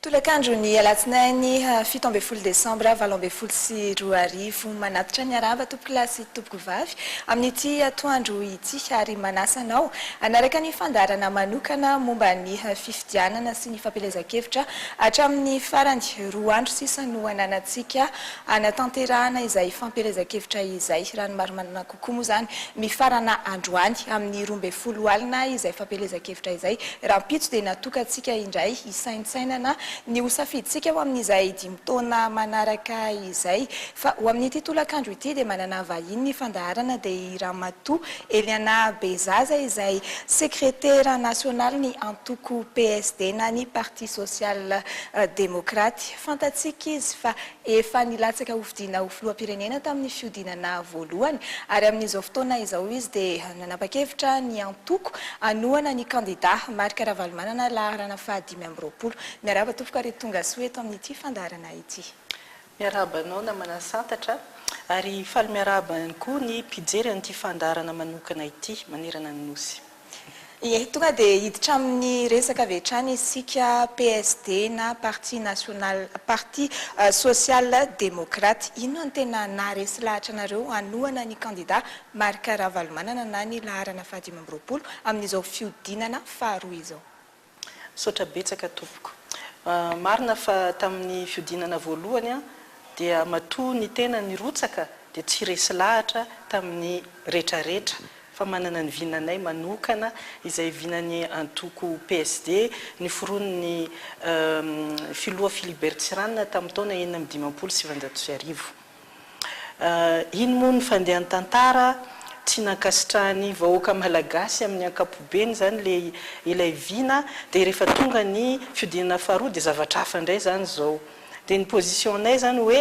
Tolakandro ny alatsinainy ha fito ambin'ny folo desambra valo ambin'ny folo sy roa arivo. Manatitra ny harava tompoko lahy sy tompoko vavy amin'ity atoandro ity ary manasa anao hanaraka ny fandaharana manokana momba ny fifidianana sy ny fampielezan-kevitra hatramin'ny farany. Roa andro sisa no ananantsika hanatanterahana izay fampielezan-kevitra izay raha ny marimarina kosa. koa moa izany, mifarana androany, amin'ny roa ambin'ny folo alina, izay fampielezan-kevitra izay. Rahampitso dia natokantsika indray hisaintsainana ny ho safidintsika ho amin'izay dimy taona manaraka izay. Fa ho amin'ity tolakandro ity dia manana vahiny ny fandaharana, dia i Ramatoa Eliana Bezaza izay sekretera nasionalin'ny antoko PSD na ny Parti Sosial Demokraty. Fantatsika izy fa Efa nilatsaka hofidiana ho filoham-pirenena tamin'ny fihodinana voalohany ary amin'izao fotoana izao izy dia nanapa-kevitra ny antoko hanohana ny kandida Marc Ravalomanana laharana faha dimy amby roapolo. Miarahaba tompoko ary tongasoa eto amin'ity fandaharana ity. Miarahaba anao namana Santatra ary faly miarahaba ihany koa ny mpijery an'ity fandaharana manokana ity manerana ny Nosy. Ie, tonga dia hiditra amin'ny resaka avy hatrany isika, PSD na Parti National, Parti Social Démocrate. Inona no tena naharesy lahatra anareo hanohana ny kandida Marc Ravalomanana na ny laharana fahadimy amby roapolo amin'izao fihodinana faharoa izao? Misaotra betsaka tompoko. Marina fa tamin'ny fiodinana voalohany dia matoa ny tena nirotsaka dia tsy resy lahatra tamin'ny retraretra fa manana ny vinanay manokana izay vinan'ny antoko PSD niforonin'ny filoha Philibert Tsiranana tamin'ny taona enina amby dimampolo sy sivinjato sy arivo. Iny moa ny fandehan'ny tantara, tsy nankasitrahan'ny vahoaka malagasy amin'ny ankapobeny izany le ilay vina, dia rehefa tonga ny fihodinana faharoa dia zavatra hafa indray izany izao. Dia ny position-nay izany hoe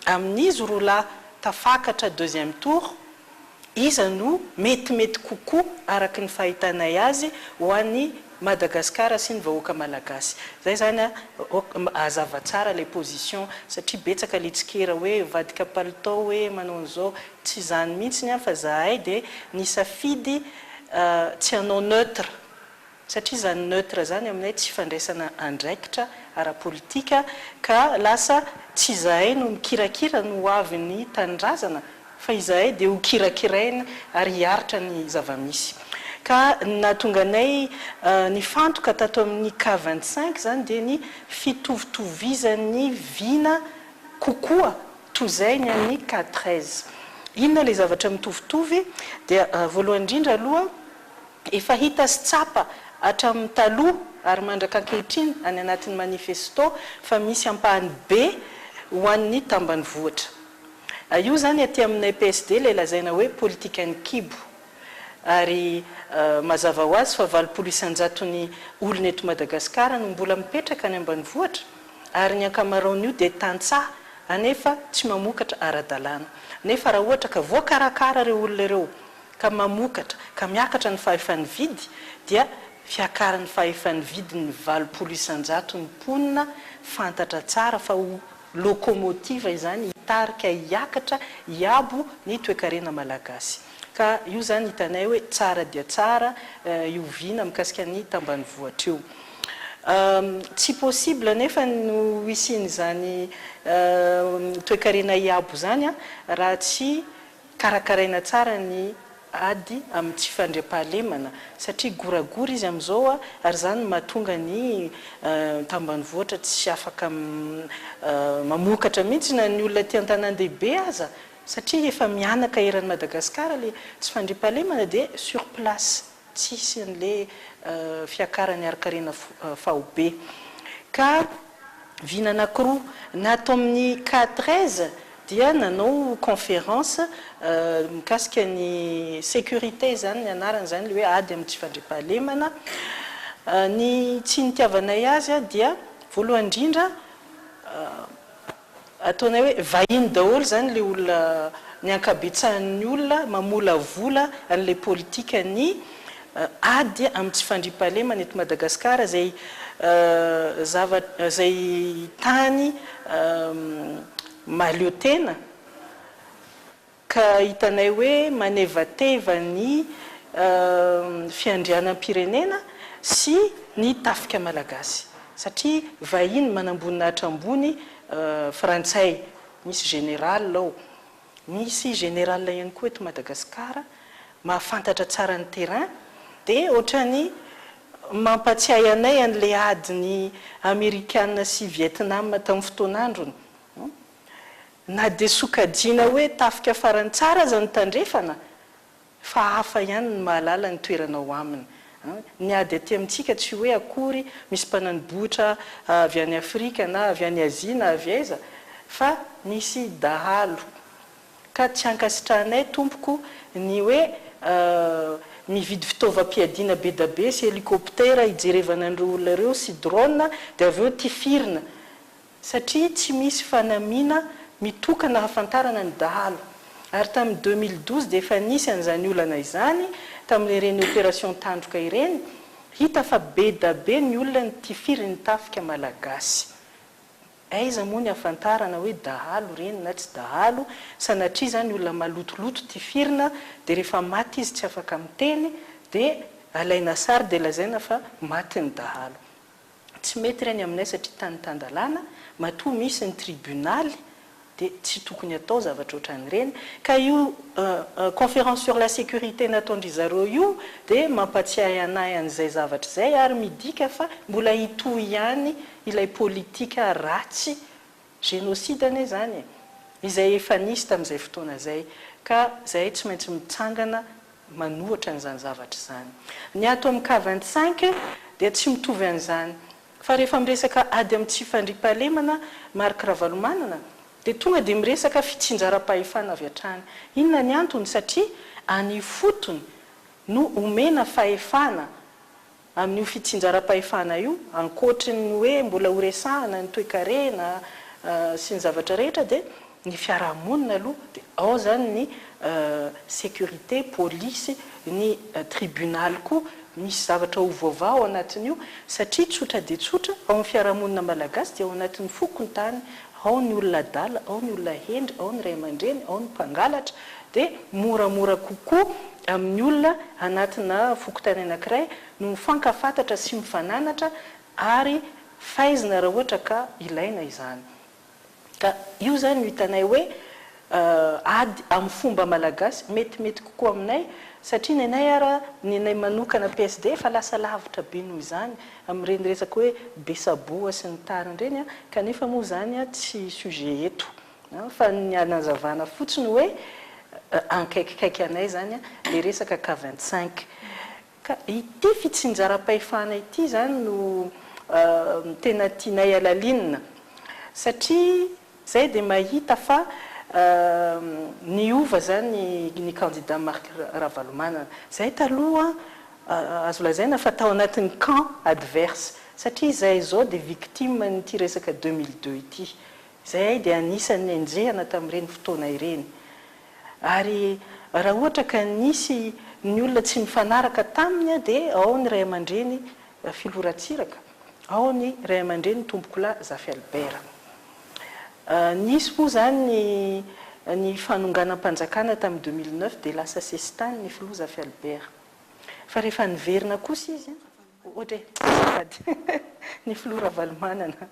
amin'izy roa lahy tafakatra deuxième tour, iza no metimety kokoa araka ny fahitanay azy ho an'i Madagascar sy ny vahoaka Malagasy. Zay zany a, hazava tsara ilay position satria betsaka ilay tsikera hoe mivadika palitao hoe manao an'izao, tsy izany mihitsiny a fa zahay dia nisafidy tsy hanao neutre. satria izany neutre izany aminay tsy fandraisana andraikitra ara-politika ka lasa tsy izahay no mikirakira ny ho avin'ny tanindrazana fa izahay dia ho kirakiraina ary hiaritra ny zava-misy ka ny nahatonga anay nifantoka tato amin'ny cas vingt cinq izany dia ny fitovitovizan'ny vina kokoa toy izay ny an'ny cas treize. Inona ilay zavatra mitovitovy? Dia voalohany indrindra aloha, Efa hita sy tsapa hatramin'ny taloha ary mandraka ankehitriny any anatin'ny manifesto fa misy ampahany be ho an'ny tambanivohitra. Io izany aty aminay PSD ilay lazaina hoe politikan'ny kibo. Ary mazava ho azy fa valopolo isan-jaton'ny olona eto Madagasikara no mbola mipetraka any ambanivohitra ary ny ankamaroan'io dia tantsaha anefa tsy mamokatra ara-dalàna. Nefa raha ohatra ka voakarakara ireo olona ireo ka mamokatra ka miakatra ny fahefa-nividy dia fiakaran'ny fahefa-nividin'ny valopolo isan-jato ny mponina fantatra tsara fa ho lokomotiva izany hitarika hiakatra hiabo ny toekarena malagasy ka io izany hitanay hoe tsara dia tsara io vy na mikasika ny tambanivohitra io tsy possible anefa no hisian'izany toekarena hiabo izany raha tsy Karakaraina tsara ny ady amin'ny tsy fandriampahalemana satria goragora izy amin'izao ary izany no mahatonga ny tambanivohitra tsy afaka mamokatra mihitsy na ny olona aty an-tanàn-dehibe aza satria efa mihanaka eran'i Madagasikara ilay tsy fandriampahalemana dia sur place. tsy hisy anle fiakarany harikarena faobe ka vina anakiroa na tao amin'ny cas treize dia nanao conference mikasika ny securite izany ny anarany izany le hoe ady amin'ny tsy fandriampahalemana ny tsy nitiavanay azy dia voalohany indrindra Ataonay hoe vahiny daholo zany le olona ny ankabetsahan'ny olona mamolavola an'ilay politikan'ny ady amin'ny tsy fandriampahalemana eto Madagasikara izay zavatra izay tany mahaleo tena. Ka hitanay hoe manevateva ny fiandrianam-pirenena sy ny tafika malagasy. Satria vahiny manamboninahitra ambony frantsay. Misy général ao. Misy général ihany koa eto Madagascar mahafantatra tsara ny terrain. Dia ohatrany mampatsiahy anay an'ilay adin'i Amerikana sy Vietnam tamin'ny fotoan'androny. Na dia sokajiana hoe tafika farany tsara aza ny Tandrefana, fa hafa ihany ny mahalala ny toerana ao aminy. Ny ady aty amintsika tsy hoe akory misy mpanani-bohitra avy any Afrika na avy any Azia na avy aiza, fa misy dahalo. Ka tsy ankasitrahanay, Tompoko, ny hoe mividy fitaovam-piadiana bedabe sy helikoptera hijerevana an'ireo olona ireo sy drone dia avy eo tifirina. satria tsy misy fanamiana mitokana ahafantarana ny dahalo ary tamin'ny deux mille douze dia efa nisy an'izany olana izany tamin'ireny opération tandroka ireny, hita fa bedabe ny olona nitifiry ny tafika malagasy. Aiza moa ny ahafantarana hoe dahalo ireny na tsy dahalo, sanatria izany olona malotoloto tifirina dia rehefa maty izy tsy afaka miteny dia alaina sary dia lazaina fa maty ny dahalo. tsy mety ireny aminay satria tany tan-dalàna, matoa misy ny tribunaly dia tsy tokony atao zavatra ohatran'ireny, ka io conférence sur la sécurité nataon-dry zareo io dia mampatsiahy anay an'izay zavatra izay ary midika fa mbola hitohy ihany ilay politika ratsy Génocide anie izany e! Izay efa nisy tamin'izay fotoana izay, ka izahay tsy maintsy mitsangana manohitra an'izany zavatra izany. Ny ato amin'ny cas vingt cinq dia tsy mitovy an'izany, fa rehefa miresaka ady amin'ny tsy fandriampahalemana, Marc Ravalomanana, dia tonga dia miresaka fitsinjaram-pahefana avy hatrany. Inona ny antony? Satria any ifotony no omena fahefana. Amin'io fitsinjaram-pahefana io, ankoatry ny hoe mbola horesahana ny toekarena sy ny zavatra rehetra dia ny fiarahamonina aloha dia ao izany ny sécurité, polisy, ny tribunaly koa misy zavatra ho voavaha ao anatin'io satria tsotra dia tsotra ao amin'ny fiarahamonina malagasy dia ao anatin'ny fokontany ao ny olona adala, ao ny olona hendry, ao ny ray aman-dreny, ao ny mpangalatra dia moramora kokoa amin'ny olona anatina fokontany anankiray no mifankafantatra sy mifananatra ary faizina raha ohatra ka ilaina izany. Ka io izany no hitanay hoe ady amin'ny fomba malagasy metimety kokoa aminay satria ny anay ara, ny anay manokana PSD efa lasa lavitra be noho izany amin'ireny resaka hoe be saboa sy ny tariny ireny kanefa moa izany tsy sujet eto. Fa ny anazavana fotsiny hoe ankaikikaiky anay izany ilay resaka cas vingt cinq. Ka ity fitsinjaram-pahefana ity izany no tena tianay halalinina. Satria izay dia mahita fa niova izany ny kandida Marc Ravalomanana. Izay taloha azo lazaina fa tao anatin'ny camp adverse. Satria izahay izao dia victime an'ity resaka deux mille deux ity. Izahay dia anisan'ny nenjehana tamin'ireny fotoana ireny. Ary raha ohatra ka nisy ny olona tsy nifanaraka taminy dia ao ny ray aman-dreny Rafiloha Ratsiraka, ao ny ray aman-dreny Tompokolahy Zafy Albert. Nisy moa izany ny fanonganam-panjakana tamin'ny deux mille neuf dia lasa sesitany ny Filoha Zafy Albert. Fa rehefa niverina kosa izy an! Ohatra hoe sahady ny filoha Ravalomanana,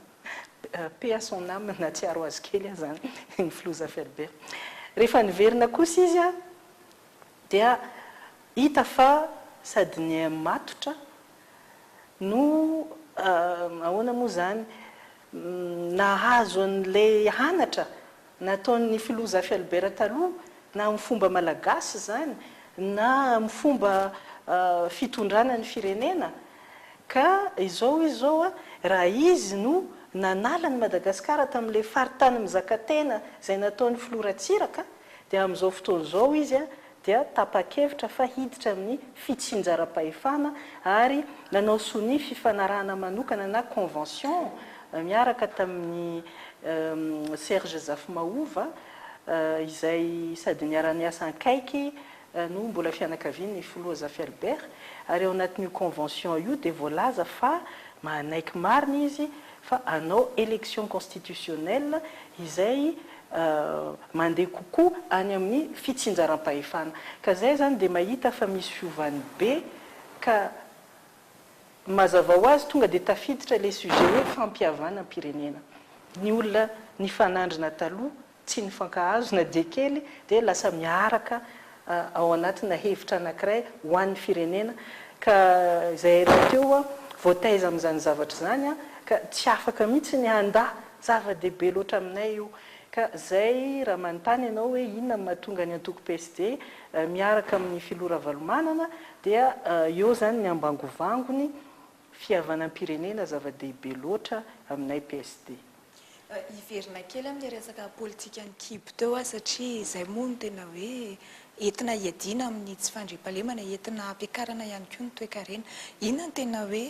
paix à son âme, nahatsiaro azy kely aho izany, ny filoha Zafy Albert. Rehefa niverina kosa izy dia hita fa sady niha-matotra no ahoana moa izany, nahazo an'ilay anatra nataon'ny filoha Zafy Albert taloha, na amin'ny fomba malagasy izany, na amin'ny fomba fitondrana ny firenena, ka izao izy izao, raha izy no nanala an'i Madagasikara tamin'ilay faritany mizakatena izay nataon'ny filoha Ratsiraka, dia amin'izao fotoana izao izy dia tapa-kevitra fa hiditra amin'ny fitsinjaram-pahefana ary nanao sonia fifanarahana manokana na convention miaraka tamin'i Serge Zafimahova izay sady niara-niasa ankaiky no mbola fianakavian'ny Filoha Zafy-Albert ary ao anatin'io convention io dia voalaza fa manaiky marina izy fa hanao élection constitutionnelle izay mandeha kokoa any amin'ny fitsinjaram-pahefana. Ka izay izany dia mahita fa misy fiovany be ka mazava ho azy tonga dia tafiditra ilay sujet hoe fampihavanam-pirenena. Ny olona nifanandrina taloha tsy nifankahazo na dia kely dia lasa miaraka ao anatina hevitra anankiray ho an'ny firenena ka izay rahateo voataiza amin'izany zavatra izany ka tsy afaka mihitsy ny handà, zava-dehibe loatra aminay io ka izay raha manontany ianao hoe inona no mahatonga ny antoko PSD miaraka amin'ny filoha Ravalomanana dia eo izany ny ambangovangony. Fihavanam-pirenena zava-dehibe loatra aminay PSD. Hiverina kely amin'ny resaka politikan'ny kibo teo aho satria izay moa no tena hoe entina hiadiana amin'ny tsy fandriampahalemana, entina hampiakarana ihany koa ny toekarena. Inona no tena hoe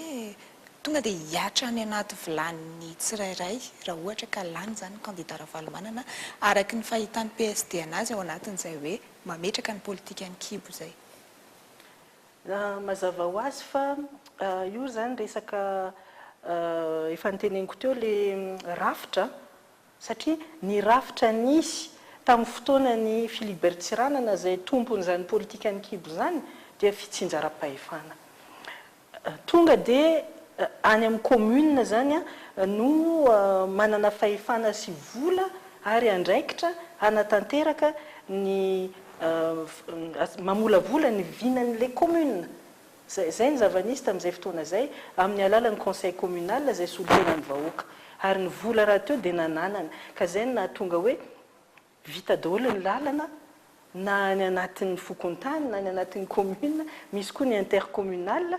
tonga dia hihatra any anaty vilanin'ny tsirairay raha ohatra ka lany izany ny kandida Ravalomanana araka ny fahitan'ny PSD an'azy ao anatin'izay hoe mametraka ny politikan'ny kibo izay? Raha mazava ho azy fa io izany resaka efa noteneniko teo ilay rafitra satria ny rafitra nisy tamin'ny fotoanan'i Philibert Tsiranana izay tompon'izany politikan'ny kibo izany dia fitsinjaram-pahefana. Tonga dia any amin'ny commune izany no manana fahefana sy vola ary andraikitra hanatanteraka ny mamolavola ny vinan'ilay commune. Zay zay ny zava-nisy tamin'izay fotoana izay, amin'ny alalan'ny conseil communal izay solontenan'ny vahoaka. Ary ny vola rahateo dia nananana. Ka izay no nahatonga hoe vita daholo ny lalana, na any anatin'ny fokontany, na any anatin'ny commune, misy koa ny intercommunal,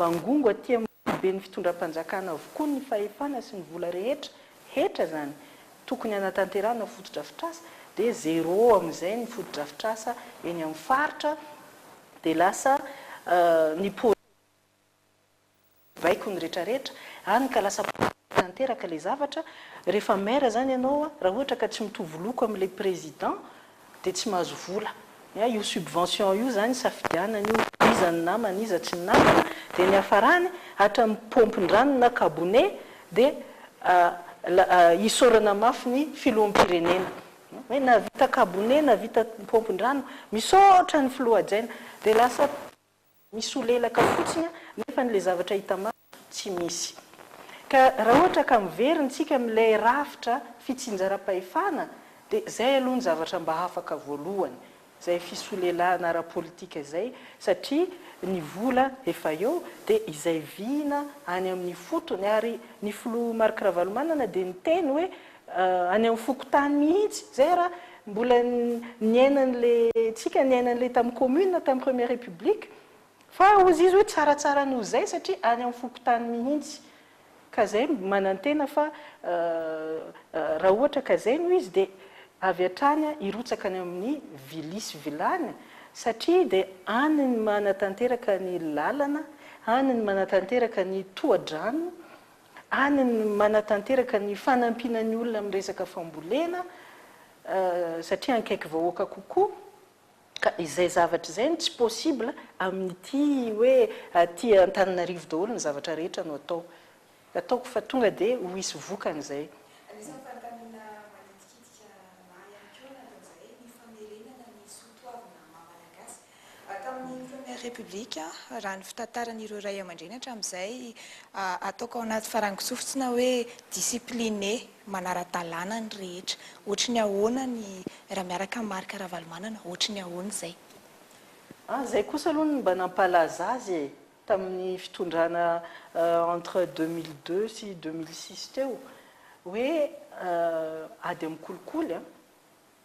Bangongo aty amin'ny foiben'ny fitondram-panjakana avokoa ny fahefana sy ny vola rehetra, hetra izany, tokony hanatanterahana fotodrafitrasa dia zéro amin'izay ny fotodrafitrasa eny amin'ny faritra dia lasa ny projet baiko ny rehetra rehetra any ka lasa politique tanteraka ilay zavatra, rehefa maire izany ianao raha ohatra ka tsy mitovy loko amin'ilay président Dia tsy mahazo vola. An, io subvention io izany isafidianana io, iza ny namana, iza tsy ny namana, dia ny hiafarany, hatramin'ny paompin-drano na kabone, dia isaorana mafy ny Filoham-pirenena. Hoe nahavita kabone, nahavita paompin-drano, misaotra ny Filoha hajaina. Dia lasa misolelaka fotsiny a, nefa ny le zavatra hita maso tsy misy. Ka raha ohatra ka miverina isika amin'ilay rafitra fitsinjaram-pahefana dia izay aloha ny zavatra mba afaka voalohany, izay fisolelahana ara-politika izay satria ny vola efa eo dia izay vina any amin'ny fotony ary ny filoha Marc Ravalomanana dia niteny hoe, Any amin'ny fokontany mihitsy. Izay ary mbola niaina an'ilay, tsika niaina an'ilay tamin'ny commune, tamin'ny première république. Fa hozy izy hoe tsaratsara noho izay satria any amin'ny fokontany mihitsy. Ka izay manantena fa raha ohatra ka izay no izy dia avy hatrany hirotsaka any amin'ny vilia sy vilany satria dia any no manatanteraka ny lalana, any no manatanteraka ny tohadrano, Any ny manatanteraka ny fanampiana ny olona amin'ny resaka fambolena satria ankaiky vahoaka kokoa ka izay zavatra izay no tsy possible amin'ity hoe aty Antananarivo daholo ny zavatra rehetra no atao. Ataoko fa tonga dia ho hisy vokany izay. Anisan'ny fanontaniana manitikitika ahy ihany koa ny anton'izay, ny famerenana ny soatoavina maha-malagasy Tamin'ny Première République, raha ny fitantaran'ireo ray aman-dreny hatramin'izay, ataoko ao anaty farangon-tsofina hoe discipline manara-dalàna ny rehetra. Ohatry ny ahoana ny raha miaraka amin'i Marc Ravalomanana, ohatry ny ahoana izay? Ah, izay kosa aloha no mba nampalaza azy e! tamin'ny fitondrana entre deux mille deux sy deux mille six teo, hoe ady amin'ny kolikoly an!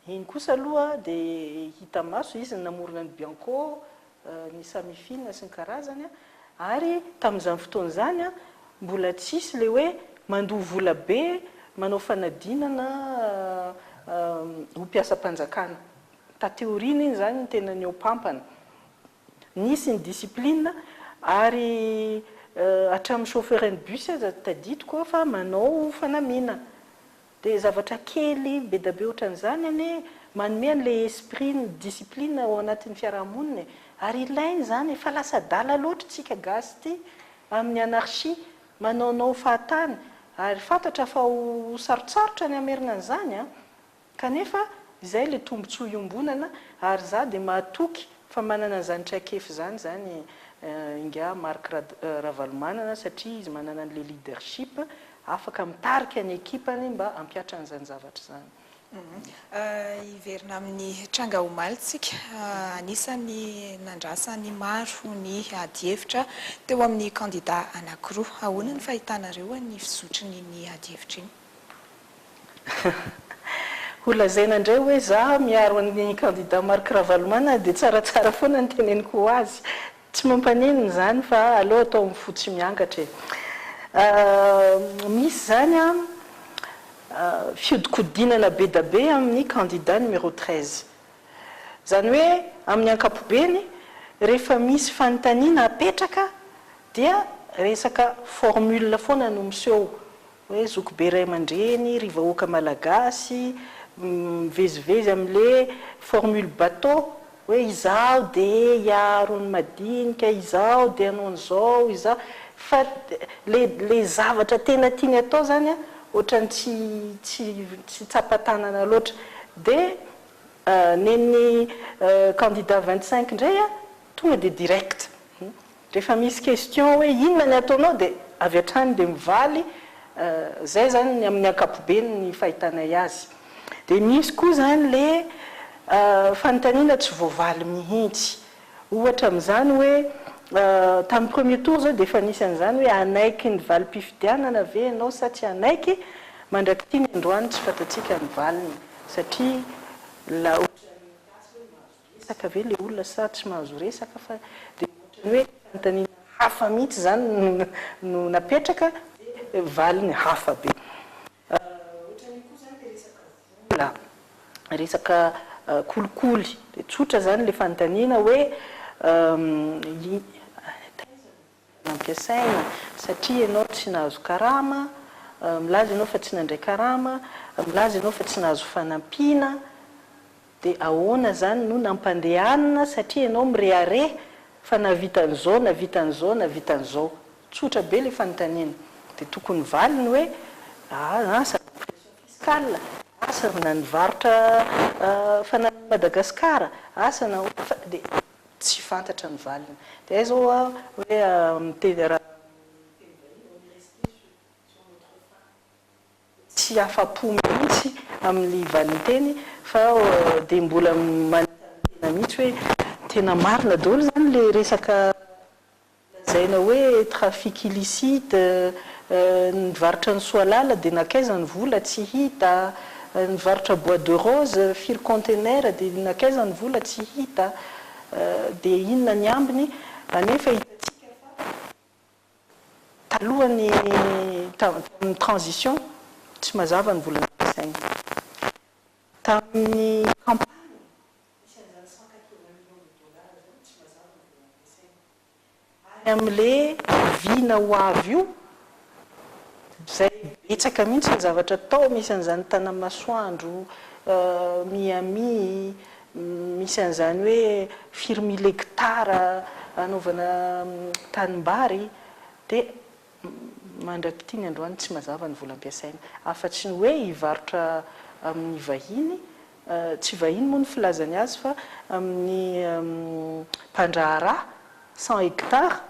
Iny kosa aloha dia hita maso izy ny namorona ny Bianco, ny Samifin sy ny karazany ary tamin'izany fotoana izany mbola tsy hisy ilay hoe mandoa vola be manao fanadinana ho mpiasam-panjakana. Taty aoriana iny izany no tena nihoa-pampana. Nisy ny discipline ary hatramin'ny chauffeuren'ny bus aza tadidiko aho fa manao fanamiana. Dia zavatra kely bedabe ohatran'izany anie manome an'ilay esprit ny discipline ao anatin'ny fiarahamonina e. Ary ilaina izany e, fa lasa adala loatra isika gasy ity amin'ny anarchie, manaonao fahatany. Ary fantatra fa ho sarotsarotra ny hamerina an'izany an! Kanefa, izay ilay tombontsoa iombonana ary izaho dia mahatoky fa manana izany traikefa izany izany ingahy Marc Ravalomanana satria izy manana an'ilay leadership afaka mitarika ny ekipany mba hampihatra an'izany zavatra izany. Hiverina amin'ny tranga omaly tsika. Anisan'ny nandrasan'ny maro ny adihevitra teo amin'ny kandida anankiroa. Ahoana ny fahitanareo ny fizotrin'iny adihevitra iny? Ho lazaina indray hoe za miaro an'ny kandida Marc Ravalomanana dia tsaratsara foana ny teneniko ho azy. Tsy mampaninona izany fa aleo atao amin'ny fo tsy miangatra e. Misy izany fihodinkodinana bedabe amin'ny kandida numéro treize. Izany hoe amin'ny ankapobeny rehefa misy fanontaniana apetraka dia resaka formule foana no miseho. hoe zoky be ray aman-dreny ry vahoaka malagasy mivezivezy amin'le formule bateau hoe izaho dia hiaro ny madinika, izaho dia hanao an'izao, izaho fa le zavatra tena tiany atao izany ohatran'ny tsy tsapa-tanana loatra dia nen'ny candidat vingt cinq indray tonga dia direct. Rehefa misy question hoe inona ny ataonao dia avy hatrany dia mivaly izay izany ny amin'ny ankapobeny ny fahitanay azy. Dia misy koa izany ilay fanontaniana tsy voavaly mihitsy. Ohatra amin'izany hoe tamin'ny premier tour izao dia efa nisy an'izany hoe hanaiky ny valim-pifidianana ve ianao sa tsy hanaiky? Mandrak'ity ny androany tsy fantatsika ny valiny satria la ohatran'ny gasy hoe mahazo. Resaka ve le olona sa tsy mahazo resaka fa dia ohatrany hoe fanontaniana hafa mihitsy izany no napetraka dia valiny hafa be. Ohatrany io koa izany dia resaka vola, resaka kolikoly dia tsotra izany le fanontaniana hoe taiza no vola. nampiasaina, satria ianao tsy nahazo karama, milaza ianao fa tsy nandray karama, milaza ianao fa tsy nahazo fanampiana, dia ahoana izany no nampandehanina satria ianao mirehareha fa nahavita an'izao, nahavita an'izao, nahavita an'izao. Tsotra be ilay fanontaniana. Dia tokony valiny hoe, asa ny pression fiscale, asa na ny varotra fanalana an'i Madagasikara, asa na ahoana fa dia. tsy fantatra ny valiny. Dia hay zao aho hoe miteny raha miteny vahiny on est resté sur sur notre faim tsy afa-po mihitsy amin'ny valinteny fa dia mbola manetry ny tena mihitsy hoe tena marina daholo izany ilay resaka Lazaina hoe trafic illicite, ny varotra ny soalala dia nankaiza ny vola, tsy hita, ny varotra bois de rose, firy contenaire dia nankaiza ny vola, tsy hita, dia inona ny ambiny, anefa hitantsika fa talohan'ny tamin'ny transition tsy mazava ny vola nampiasaina. Tamin'ny campagne Misy an'izany cent quatre-vingts millions de dollars izany tsy mazava ny vola ampiasaina. Any amin'le oviana ho avy io izay betsaka mihintsy ny zavatra atao, misy an'izany Tanamasoandro, Miami, misy an'izany hoe firy mille hectares anaovana tanimbary dia. Mandrak'itiny androany tsy mazava ny vola ampiasaina. Afatry ny hoe hivarotra amin'ny vahiny, tsy vahiny moa ny filazany azy fa amin'ny mpandraharaha, cent hectares,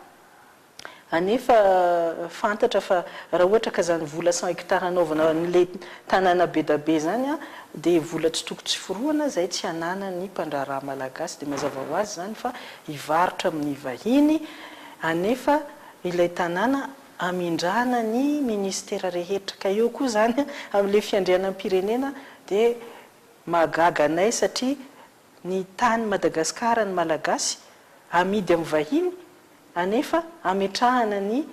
anefa fantatra fa raha ohatra ka izany vola cent hectares hanaovana an'ilay tanàna bedabe izany dia vola tsy toko tsy forohana izay tsy ananan'ny mpandraharaha malagasy dia mazava ho azy izany fa hivarotra amin'ny vahiny anefa ilay tanàna hamindrana ny ministera rehetra ka eo koa izany amin'ilay fiandrianam-pirenena dia mahagaga anay satria ny tany Madagasikara ny Malagasy amidy amin'ny vahiny anefa ametrahana ny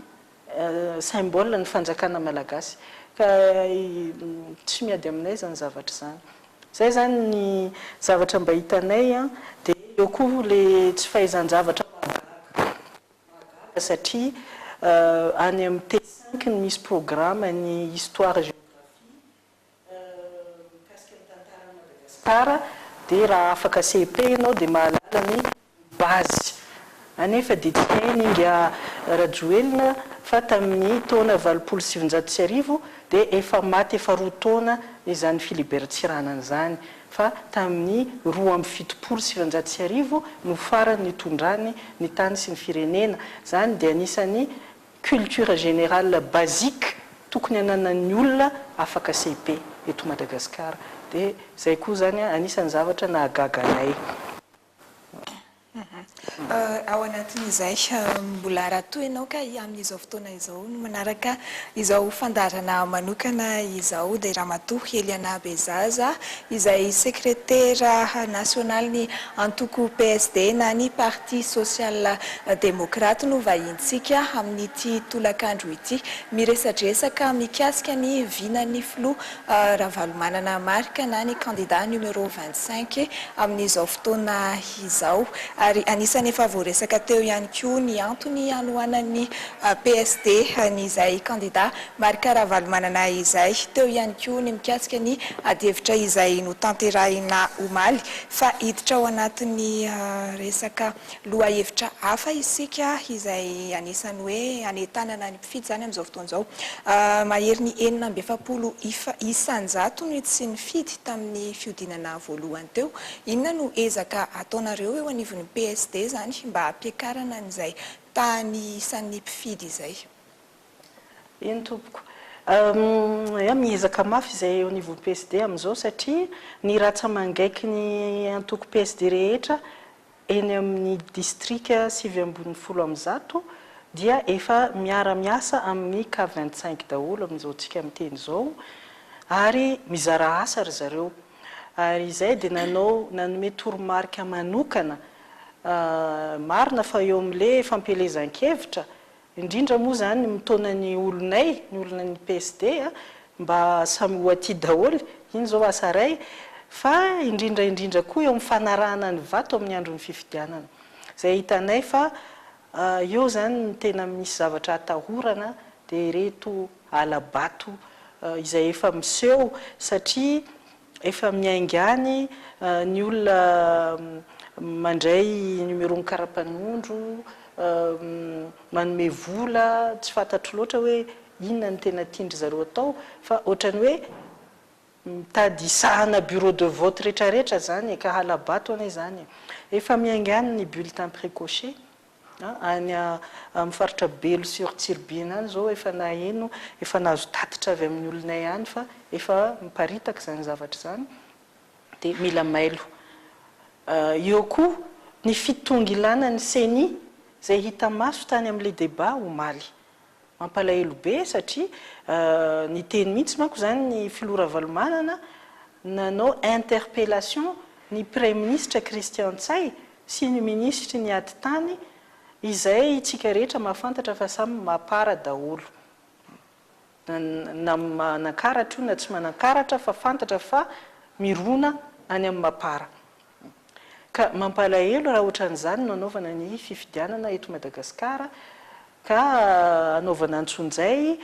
symbole ny fanjakana Malagasy ka tsy miady aminay izany zavatra izany izay izany ny zavatra mba hitanay dia eo koa ilay tsy fahaizan-javatra mahagaga. Mahagaga satria any amin'ny teny cinq no misy programa ny histoire géographie mikasika ny tantaran'i Madagascar dia raha afaka CEP ianao dia mahalala ny base anefa dia tsy hain'i Inga Rajoelina fa tamin'ny taona valopolo sy sivinjato sy arivo dia efa maty efa roa taona izany Philibert Tsiranana izany fa tamin'ny roa amby fitopolo sy sivinjato sy arivo no farany nitondrany ny tany sy ny firenena, izany dia anisan'ny culture générale basique tokony ananan'ny olona afaka CEP eto Madagasikara, dia izay koa izany anisan'ny zavatra nahagaga anay. Ao anatin'izay, mbola raha toa ianao ka amin'izao fotoana izao no manaraka izao fandaharana manokana izao dia Ramatoa Eliana Bezaza izay sekretera nasionalin'ny antoko PSD na ny Parti Sosiala Demokraty no vahintsika amin'ity tolakandro ity. Miresadresaka mikasika ny vinan'ny Filoha Ravalomanana Marc na ny kandida numéro vingt cinq amin'izao fotoana izao ary anisan'ny efa voaresaka teo ihany koa ny antony hanohanan'ny PSD an'izay kandida Marc Ravalomanana izay. Teo ihany koa ny mikasika ny adihevitra izay notanterahina omaly fa hiditra ao anatin'ny resaka lohahevitra hafa isika izay anisan'ny hoe hanentanana ny Fidy izany amin'izao fotoana izao. Maherin'ny enina amby efapolo isan-jato ny tsy nifidy tamin'ny fihodinana voalohany teo. Inona no ezaka ataonareo eo anivon'ny PSD izany mba hampiakarana an'izay tahan'ny isan'ny mpifidy izay? Eny tompoko. Eeh, miezaka mafy izay eo anivon'ny PSD amin'izao satria ny rantsa-mangaiky ny antoko PSD rehetra eny amin'ny distrika sivy ambin'ny folo amin'ny zato dia efa miara-miasa amin'ny cas vingt cinq daholo amin'izao tsika miteny izao ary mizara asa ry zareo ary izay dia nanao nanome toromarika manokana marina fa eo amin'le fampielezan-kevitra indrindra moa izany mitaona ny olonay, ny olonan'ny PSD a, mba samy ho aty daholo, iny izao asa iray, fa indrindra indrindra koa eo amin'ny fanarahana ny vato amin'ny andron'ny fifidianana, izay hitanay fa eo izany ny tena misy zavatra atahorana dia ireto hala-bato izay efa miseho, satria Efa miainga any ny olona mandray numéro-n'ny karapanondro, manome vola, tsy fantatro loatra hoe inona no tena tian-dry zareo atao fa ohatran'ny hoe mitady hisahana bureau de vote rehetrarehetra izany e, ka hala-bato anie izany e. Efa miainga any ny bulletin précoché, Any amin'ny faritra Belo sy sur Tsiribihina any izao efa naheno, efa nahazo tatitra avy amin'ny olonay any fa efa miparitaka izany zavatra izany dia mila mailo. Eo koa ny fitongilanan'ny Ceni izay hita maso tany amin'ilay débat omaly. Mampalahelo be satria niteny mihitsy manko izany ny filoha Ravalomanana, nanao interpellation ny praiminisitra Christian Ntsay sy ny minisitry ny atitany izay isika rehetra mahafantatra fa samy mapara daholo na manankaratra io na tsy manankaratra fa fantatra fa mirona any amin'ny mapara. Ka mampalahelo raha ohatran'izany no anaovana ny fifidianana eto Madagasikara ka anaovana antsonjay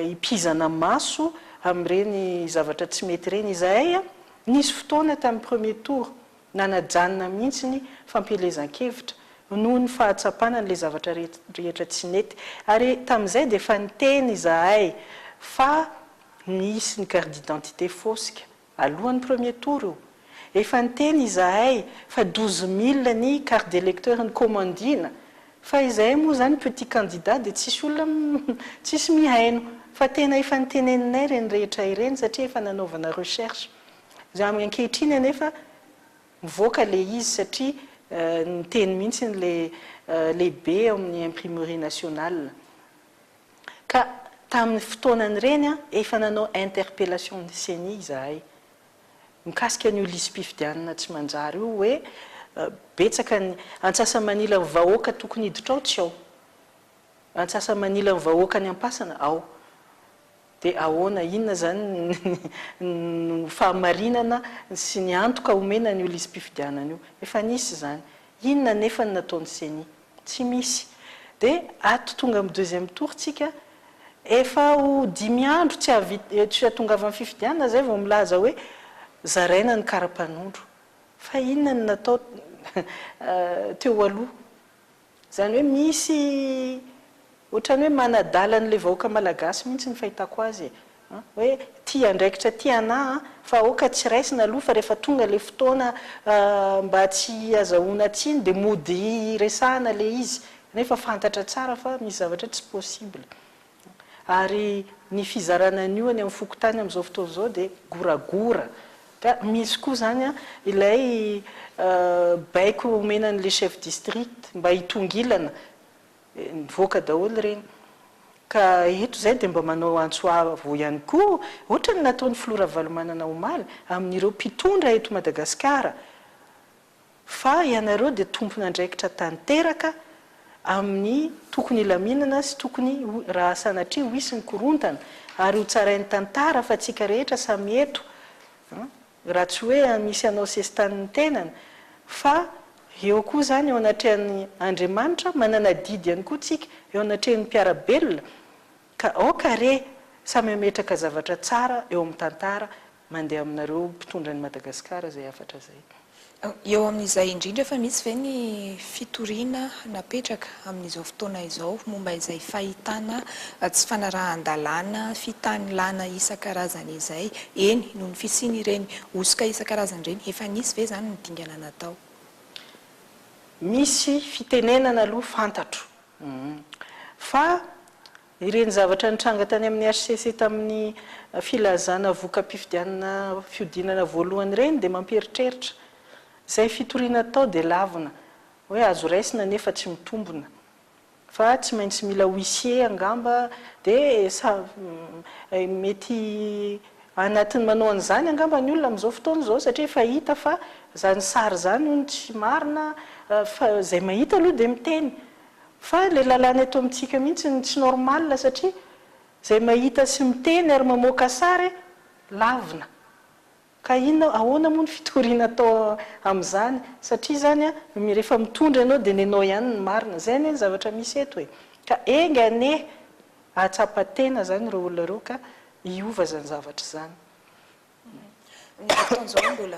hipizana maso amin'ireny zavatra tsy mety ireny. Izahay nisy fotoana tamin'ny premier tour nanajanona mihitsy ny fampielezan-kevitra noho ny fahatsapana an'ilay zavatra rehetra tsy nety. Ary tamin'izay dia efa niteny izahay fa nisy ny carte d'identité fosika. Alohan'ny premier tour io. Efa niteny izahay fa douze mille ny carte d'electeur ny komandina fa izahay moa izany petit candidat dia tsisy olona tsisy mihaino fa tena efa niteneninay ireny rehetra ireny satria efa nanaovana recherche. Izay amin'ny ankehitriny anefa mivoaka ilay izy satria niteny mihitsy ilay lehibe ao amin'ny imprimerie nationale. Ka tamin'ny fotoanan'ireny efa nanao interpellation ny ceni izahay mikasika an'io lisi-pifidianana tsy manjary io hoe betsaka ny antsasa-manilan'ny vahoaka tokony hiditra ao tsy ao, antsasa-manilan'ny vahoaka any am-pasana ao Dia ahoana, inona izany no fahamarinana sy ny antoka omena an'io lisi-pifidianana io? Efa nisy izany. Inona anefa no nataon'ny ceni? Tsy misy. Dia ato tonga amin'ny deuxième tour tsika, efa ho dimy andro tsy hahatongavan'ny fifidianana izay vao milaza hoe zaraina ny karapanondro. Fa inona no natao teo aloha? Izany hoe misy ohatrany hoe manadala an'ilay vahoaka malagasy mihitsy ny fahitako azy e. Hoe tia andraikitra tia anà an, fa aoka tsy raisina aloha fa rehefa tonga ilay fotoana mba tsy azahoana tsiny dia mody hiresahana ilay izy. Nefa fantatra tsara fa misy zavatra tsy possible. Ary ny fizarana an'io any amin'ny fokontany amin'izao fotoana izao dia goragora. Ka misy koa izany ilay baiko omena an'ilay chef district mba hitongilana. Nivoaka daholo ireny. Ka eto izay dia mba manao antso avo ihany koa, ohatran'ny nataon'ny filoha Ravalomanana omaly, amin'ireo mpitondra eto Madagasikara, fa ianareo dia tompon'andraikitra tanteraka amin'ny tokony hilaminana sy tokony ho, raha sanatria ho hisy ny korontana, ary ho tsarain'ny tantara fa tsika rehetra samy eto, raha tsy hoe misy hanao sesitanin'ny tenany, fa eo koa izany eo anatrehan'ny Andriamanitra, manana adidy ihany koa tsika eo anatrehan'ny mpiara-belona, ka aoka re samy hametraka zavatra tsara eo amin'ny tantara Mandeha aminareo mpitondra an'i Madagasikara zay hafatra zay. Eo amin'izay indrindra fa misy ve ny fitoriana napetraka amin'izao fotoana izao momba izay fahitana tsy fanarahan-dalàna fitanilana isan-karazany izay, eny noho ny fisian'ireny hosoka isan-karazany ireny, efa nisy ve izany ny dingana natao? Misy fitenenana aloha fantatro fa Ireny zavatra nitranga tany amin'ny hcc tamin'ny filazana voka-pifidianana fihodinana voalohany ireny dia mampieritreritra. Izay fitoriana atao dia lavina hoe azo raisina nefa tsy mitombina. Fa tsy maintsy mila huissier angamba dia sa mety anatin'ny manao an'izany angamba ny olona amin'izao fotoana izao satria efa hita fa izany sary izany hono tsy marina fa izay mahita aloha dia miteny. Fa ilay lalàna eto amintsika mihitsy no tsy normal satria izay mahita sy miteny ary mamoaka sary lavina. Ka inona, ahoana moa ny fitoriana atao amin'izany? Satria izany rehefa mitondra ianao dia nenao ihany ny marina. Izay anie ny zavatra misy eto e! Ka enga anie hahatsapa tena izany ireo olona ireo ka hiova izany zavatra izany. Amin'izao fotoana izao mbola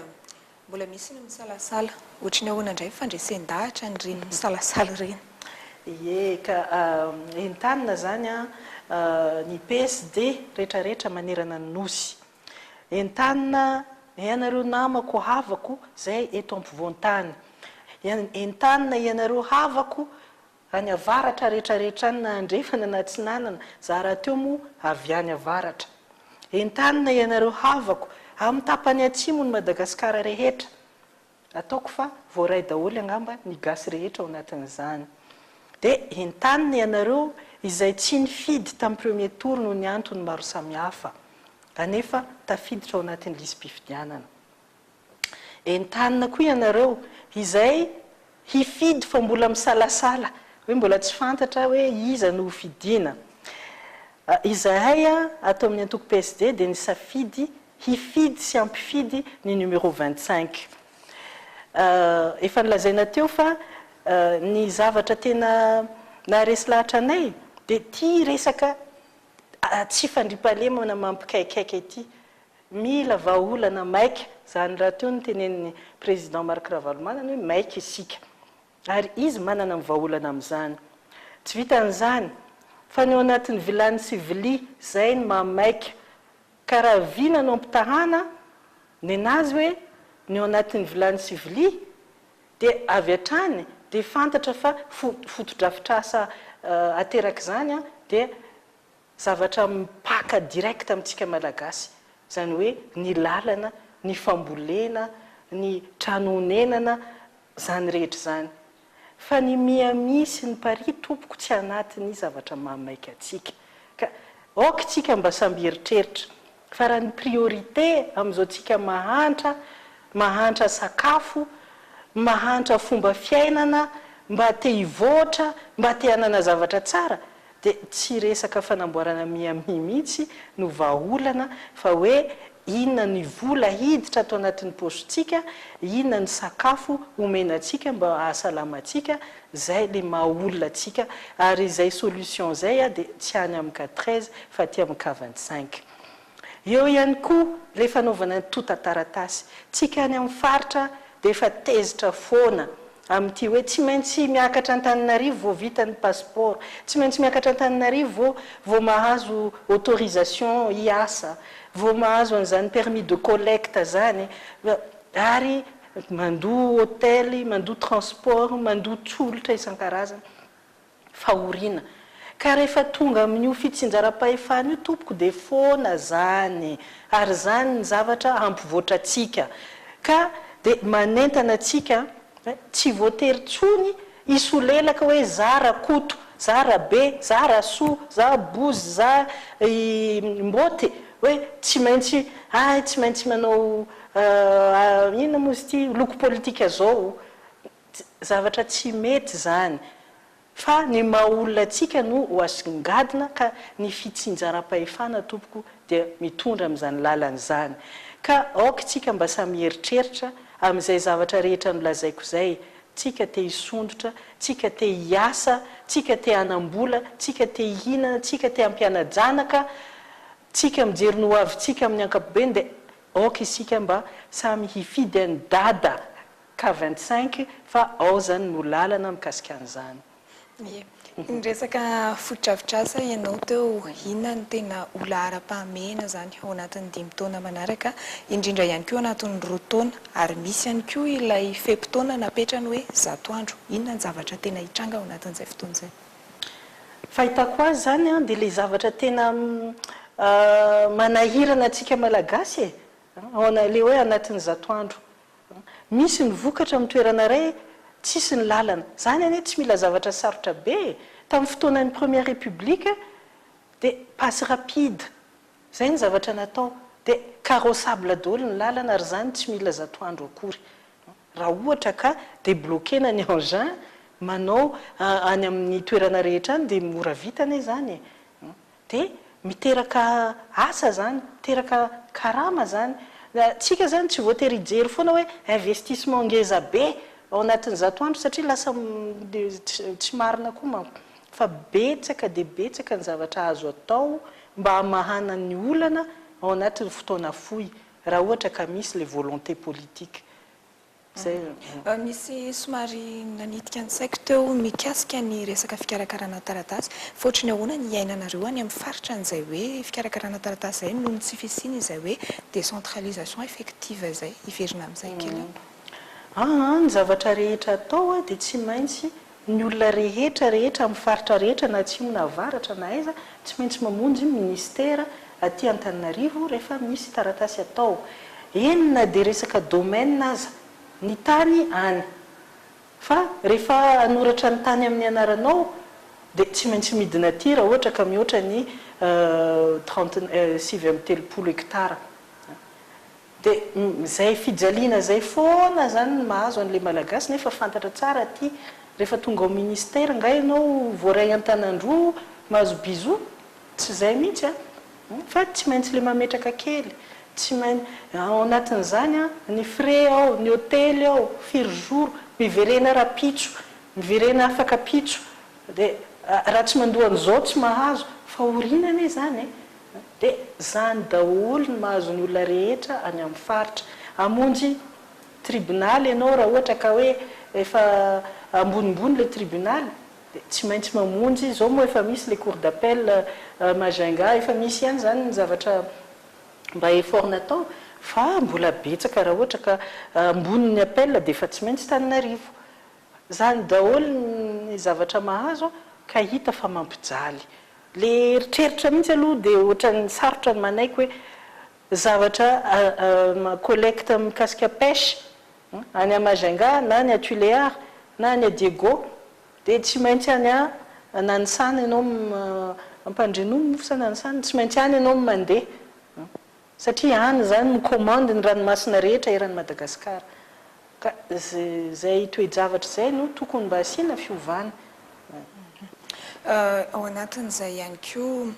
mbola misy ny misalasala. Ohatry ny ahoana indray ny fandresen-dahatra an'ireny misalasala ireny? Ie ka, entanina izany ny PSD rehetra rehetra manerana ny Nosy. Entanina ianareo namako havako izay eto ampovoan-tany. Entanina ianareo havako Any avaratra rehetra rehetra any na andrefana na atsinanana za rahateo moa avy any avaratra. Entanina ianareo havako amin'ny tapany atsimon'i Madagasikara rehetra. Ataoko fa voaray daholo angamba ny gasy rehetra ao anatin'izany. Dia entanina ianareo izay tsy nifidy tamin'ny premier tour noho ny antony maro samihafa. Anefa tafiditra ao anatin'ny lisi-pifidianana. Entanina koa ianareo izay hifidy fa mbola misalasala hoe mbola tsy fantatra hoe iza no ho fidiana. Izahay ato amin'ny antoko PSD dia nisafidy hifidy sy hampifidy ny numéro vingt cinq. Efa nolazaina teo fa ny zavatra tena naharesy lahatra anay dia ity resaka tsy fandriampahalemana mampikaikaika ity. Mila vahaolana maika, zany raha teo no tenenin'ny Président Marc Ravalomanana hoe maika isika. Ary izy manana ny vahaolana amin'izany. Tsy vitan'izany, fa ny ao anatin'ny vilany sy vilia, zay no maha maika. Ka raha vy nanao ampitahana nenazy hoe ny ao anatin'ny vilany sy vilia, dia avy hatrany dia fantatra fa fotodrafitrasa aterak'izany dia Zavatra mipaka direct amintsika Malagasy, izany hoe ny lalana, ny fambolena, ny trano onenana, izany rehetra izany. Fa ny Miami sy ny Paris tompoko tsy anatin'ny zavatra maha maika antsika. Ka aoka isika mba samby hieritreritra Fa raha ny priorité amin'izao tsika mahantra, mahantra sakafo, mahantra fomba fiainana, mba te hivoatra, mba te hanana zavatra tsara, dia tsy resaka fanamboarana Miami mihitsy no vahaolana fa hoe inona ny vola hiditra ato anatin'ny paosy-tsika, inona ny sakafo omena antsika mba hahasalama antsika, Zay le maha olona atsika ary zay solution zay a de tsy any am cas treize fa aty am cas vingt cinq. Eo ihany koa le fanaovana ny tonta taratasy. Tsika any am faritra de efa tezitra foana am ty hoe tsy maintsy miakatra Antananarivo vao vita ny passeport, tsy maintsy miakatra Antananarivo vao vao mahazo autorisation hiasa, vao mahazo an'izany permis de collecte zany, ary Mandoa hotely, mandoa transport, mandoa tsolotra isan-karazany. Fahoriana. Ka rehefa tonga amin'io fitsinjaram-pahefana io tompoko dia foana zany. Ary izany ny zavatra hampivoatra antsika. Ka dia manentana antsika hoe tsy voatery intsony hisolelaka hoe za Rakoto, za Rabe, za Rasoa, za Bozy, za i Mboty hoe tsy maintsy hay tsy maintsy manao Ahh inona moa izy ity loko politika zao? Zavatra tsy mety zany fa ny maha olona antsika no ho asongadina ka ny fitsinjaram-pahefana tompoko dia mitondra amin'izany lalana izany ka aoka tsika mba samy hieritreritra amin'izay zavatra rehetra nolazaiko izay, tsika te hisondrotra, tsika te hiasa, tsika te hanam-bola, tsika te hihinana, tsika te hampiana-janaka, Tsika mijery ny hoavintsika amin'ny ankapobeny dia aoka isika mba samy hifidy an'i Dada cas vingt cinq fa ao izany no lalana mikasika an'izany. Ie. Niresaka fotodrafitrasa ianao teo, inona no tena ho laharam-pahamehana izany ao anatin'ny dimy taona manaraka, indrindra ihany koa ao anatin'ny roa taona, ary misy ihany koa ilay fe-potoana napetrany hoe zato andro, inona ny zavatra tena hitranga ao anatin'izay fotoana izay? Fahitako azy izany an, dia ilay zavatra tena manahirana antsika Malagasy e, ilay hoe anatin'ny zato andro. Misy ny vokatra amin'ny toerana iray, tsisy ny lalana. Izany anie tsy mila zavatra sarotra be e! Tamin'ny fotoanan'ny Première République, dia passe rapide, izay ny zavatra natao. Dia carrossable daholo ny lalana ary izany tsy mila zato andro akory. Raha ohatra ka debloquena ny engin manao any amin'ny toerana rehetra any dia mora vita anie izany e! Dia miteraka asa izany, miteraka karama izany. Tsika izany tsy voatery hijery foana hoe investissement ngeza be ao anatin'ny zato andro satria lasa tsy marina koa manko. Fa betsaka dia betsaka ny zavatra azo atao mba hamahana ny olana ao anatin'ny fotoana fohy. Raha ohatra ka misy le volonté politique. Zay. Misy somary nanitika ny saiko teo mikasika ny resaka fikarakarana taratasy, fa ohatry ny ahoana ny iainanareo any amin'ny faritra an'izay hoe fikarakarana taratasy izay noho ny tsy fisian' izay hoe décentralisation effective izay? Hiverina amin'izay kely aho. Aa, ny zavatra rehetra atao dia tsy maintsy Ny olona rehetra rehetra amin'ny faritra rehetra na atsimo na avaratra na aiza tsy maintsy mamonjy ny ministera aty Antananarivo rehefa misy taratasy atao. Eny na dia resaka domaine aza, ny tany any. Fa rehefa hanoratra ny tany amin'ny anaranao dia tsy maintsy midina aty raha ohatra ka mihoatra ny trente sivy amby telopolo hectares. De zay fijaliana zay foana zany no mahazo anle malagasy nefa fantatra tsara aty refa tonga ao ministère nga ianao voaray antanandroa mahazo bisous? tsy zay mihitsy a! fa tsy maintsy le mametraka kely tsy main ao anatin'izany a ny frais ao ny hotely ao firy jour miverena rapitso miverena afaka pitso de raha tsy mandoa an'izao tsy mahazo fa orina anie zany e! Dia izany daholo no mahazo ny olona rehetra any amin'ny faritra. Hamonjy tribonaly ianao raha ohatra ka hoe efa ambonimbony ilay tribonaly dia tsy maintsy mamonjy, izao moa efa misy ilay cour d'appel Majunga, efa misy ihany izany ny zavatra mba effort natao fa mbola betsaka raha ohatra ka ambonin'ny appel dia efa tsy maintsy Tananarivo. Izany daholo ny zavatra mahazo ka hita fa mampijaly Le eritreritra mihitsy aloha de ohatran'ny sarotra ny manaiky hoe zavatra collecte mikasika pêche any à Majunga na any à Tuléar na any à Diego de tsy maintsy any à Nanisana ianao Ampandrianono moa sa Nanisana? Tsy maintsy any ianao mandeha. Satria any izany no commande ny ranomasina rehetra eran'i Madagasikara. Ka izay toe-javatra izay no tokony mba asiana fiovana. Ao anatin'izay ihany koa,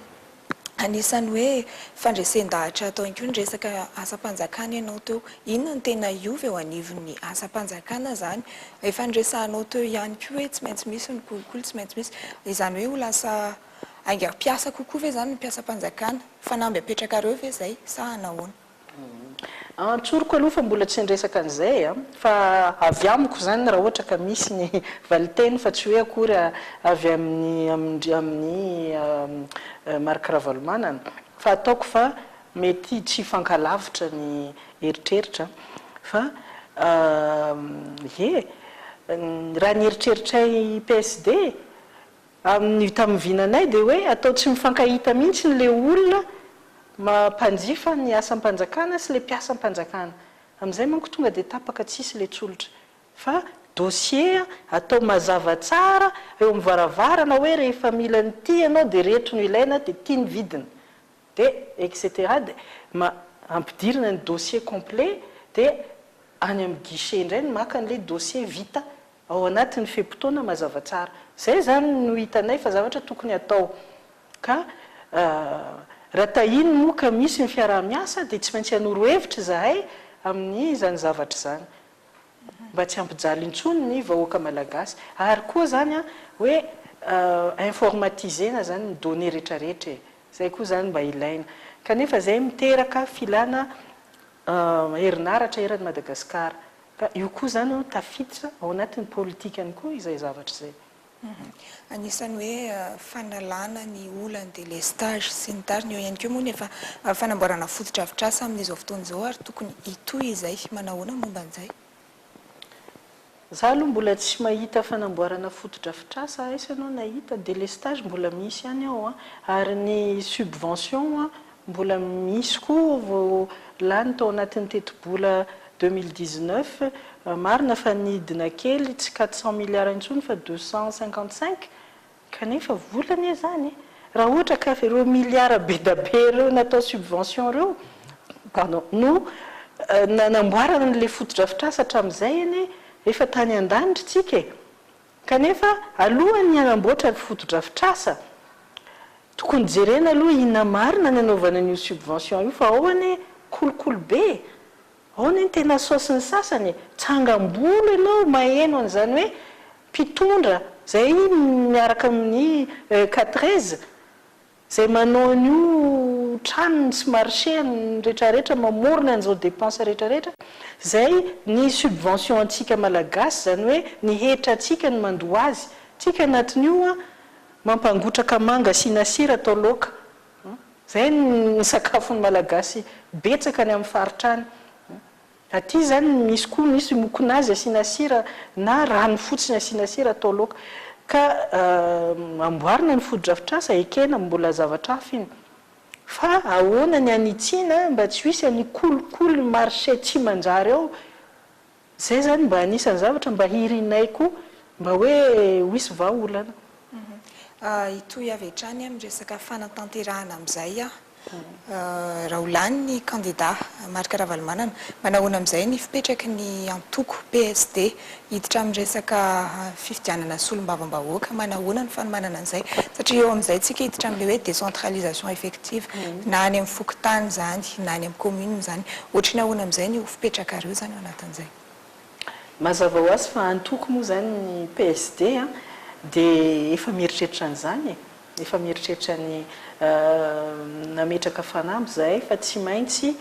anisan'ny hoe fandresen-dahatra atao ihany koa ny resaka asam-panjakana ianao teo. Inona no tena hiova eo anivon'ny asam-panjakana izany? Efa niresahanao teo ihany koa hoe tsy maintsy misy ny kolikoly, tsy maintsy misy. Izany hoe ho lasa haingam-piasa kokoa ve izany ny mpiasam-panjakana? Fanamby apetrakareo ve zay sa nahoana? An tsoriko aloha fa mbola tsy niresaka an'izay a! Fa avy amiko izany raha ohatra ka misy ny valinteny fa tsy hoe akory avy amin'ny amin'ny amin'ny Marc Ravalomanana. Fa ataoko fa mety tsy hifankalavitra ny eritreritra fa ie! Raha ny eritreritray PSD, Amin ny taminvinanay dia hoe atao tsy mifankahita mihintsy ny le olona mampanjifa ny asam panjakana sy le mpiasam panjakana. Amizay manko tonga dia tapaka tsisy le tsolotra. Fa dossier atao mazava tsara eo amin varavarana hoe rehefa mila an ity ianao dia reto no ilaina dia ty ny vidiny. Dia etc. Dia ma ampidirina ny dossier complet dia any amin ny guichet indray ny maka an le dossier vita. ao anatin'ny fe-potoana mazava tsara. Izay izany no hitanay fa zavatra tokony hatao. Ka raha tahiny moa ka misy ny fiaraha-miasa dia tsy maintsy hanoro hevitra izahay amin'izany zavatra izany. Mba tsy hampijaly intsony ny vahoaka malagasy. Ary koa izany hoe informatiser-na izany ny données rehetrarehetra e. Izay koa izany mba ilaina. Kanefa izay miteraka filana herinaratra eran'i Madagasikara. Ka io koa izany an, tafiditra ao anatin'ny politikany koa izay zavatra izay. Anisan'ny hoe fanalana ny olan'ny délestage sy ny tariny, eo ihany koa moa ny efa fanamboarana fotodrafitrasa amin'izao fotoana izao ary tokony hitohy izay. Manao ahoana ny momba an'izay? Izaho aloha mbola tsy mahita fanamboarana fotodrafitrasa, aiza ianao nahita? Délestage mbola misy ihany ao an, ary ny subvention Mbola misy koa vao lany tao anatin'ny tetibola deux mille dix-neuf, marina fa nidina kely tsy quatre cents milliards intsony fa deux cent cinquante-cinq, kanefa vola anie izany, raha ohatra ka ireo milliards bedabe ireo natao subvention ireo, pardon, no nanamboarana an'ilay fotodrafitrasa hatramin'izay anie efa tany an-danitra isika e! kanefa alohan'ny hanamboatra ny fotodrafitrasa, Tokony jerena aloha inona marina ny anaovana an'io subvention io fa ao anie kolikoly be e! Ao anie ny tena saosy ny sasany e! Tsangam-bolo ianao maheno an'izany hoe mpitondra izay miaraka amin'ny quatorze izay manao an'io tranony sy marcheny retraretra mamorona an'izao depense retraretra izay ny subvention antsika malagasy izany hoe ny hetra antsika no mandoa azy tsika anatin'io an! Mampangotraka manga asiana sira atao laoka. Izay ny sakafon'ny Malagasy betsaka any amin'ny faritra any. Aty izany misy koa misy mokonazy asiana sira na rano fotsiny asiana sira atao laoka. Ka amboarina ny fotodrafitrasa, ekena mbola zavatra hafa iny. Fa ahoana ny hanitsiana mba tsy ho hisy an'io kolikoly marché tsy manjary ao? Izay zany mba anisan'ny zavatra mba hirinay koa mba hoe ho hisy vahaolana. Hitohy avy hatrany amin'ny resaka fanatanterahana amin'izay aho. Raha ho lany ny kandida Marc Ravalomanana, manahoana amin'izay ny fipetraky ny antoko PSD? Hiditra amin'ny resaka fifidianana solombavambahoaka, manahoana ny fanomanana an'izay? Satria eo amin'izay isika hiditra amin'ilay hoe décentralisation effective, na any amin'ny fokontany izany na any amin'ny commune izany. Ohatry ny ahoana amin'izay ny ho. Fipetrakareo zany ao anatin'izay. Mazava ho azy fa antoko moa izany ny PSD dia efa mieritreritra an'izany e! Efa mieritreritra ny nametraka fanamby izahay fa tsy maintsy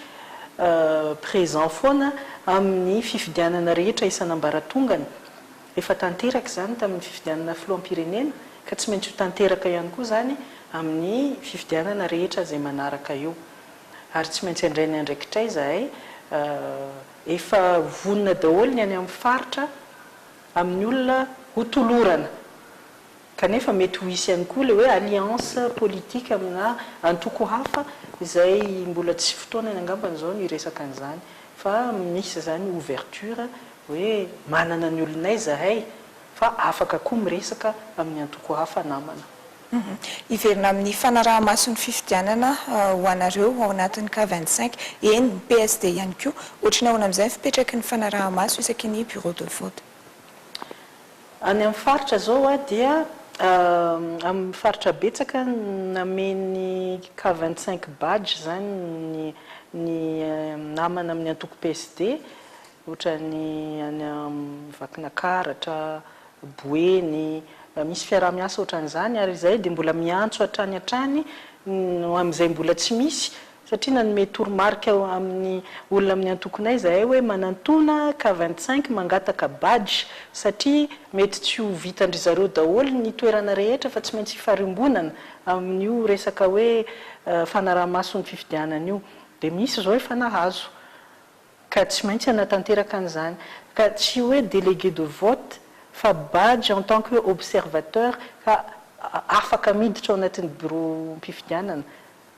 présent foana amin'ny fifidianana rehetra isan'ambaratongany. Efa tanteraka izany tamin'ny fifidianana filoham-pirenena ka tsy maintsy ho tanteraka ihany koa izany amin'ny fifidianana rehetra izay manaraka eo. Ary tsy maintsy handray ny andraikitray izahay, efa vonona daholo ny any amin'ny faritra amin'ny olona hotolorana, kanefa mety ho hisy ihany koa ilay hoe alliance politique aminà antoko hafa izay mbola tsy fotoanany angambany izao ny hiresaka an'izany, fa misy izany ouverture hoe manana ny olonay izahay fa afaka koa miresaka amin'ny antoko hafa namana. Hiverina amin'ny fanaraha-maso ny fifidianana ho anareo ao anatin'ny cas vingt cinq, eny, ny PSD ihany koa. Ohatry ny ahoana amin'izay ny fipetraky ny fanaraha-maso isaky ny bureau de vote? Any amin'ny faritra izao dia amin'ny faritra betsaka nameny cas vingt cinq badge izany ny namana amin'ny antoko PSD. Ohatran'ny any amin'ny Vakinakaratra, Boeny, misy fiaraha-miasa ohatran'izany ary izahay dia mbola miantso hatrany hatrany ho amin'izay mbola tsy misy satria nanome toromarika amin'ny olona amin'ny antokonay izahay hoe manantona cas vingt cinq mangataka badge satria mety tsy ho vitan-dry zareo daholo ny toerana rehetra fa tsy maintsy hifarimbonana amin'io resaka hoe fanaraha-maso ny fifidianana io dia misy izao efa nahazo Ka tsy maintsy hanatanteraka an'izany. Ka tsy hoe délégué de vote fa badge en tant que observateur ka afaka miditra ao anatin'ny biraom-pifidianana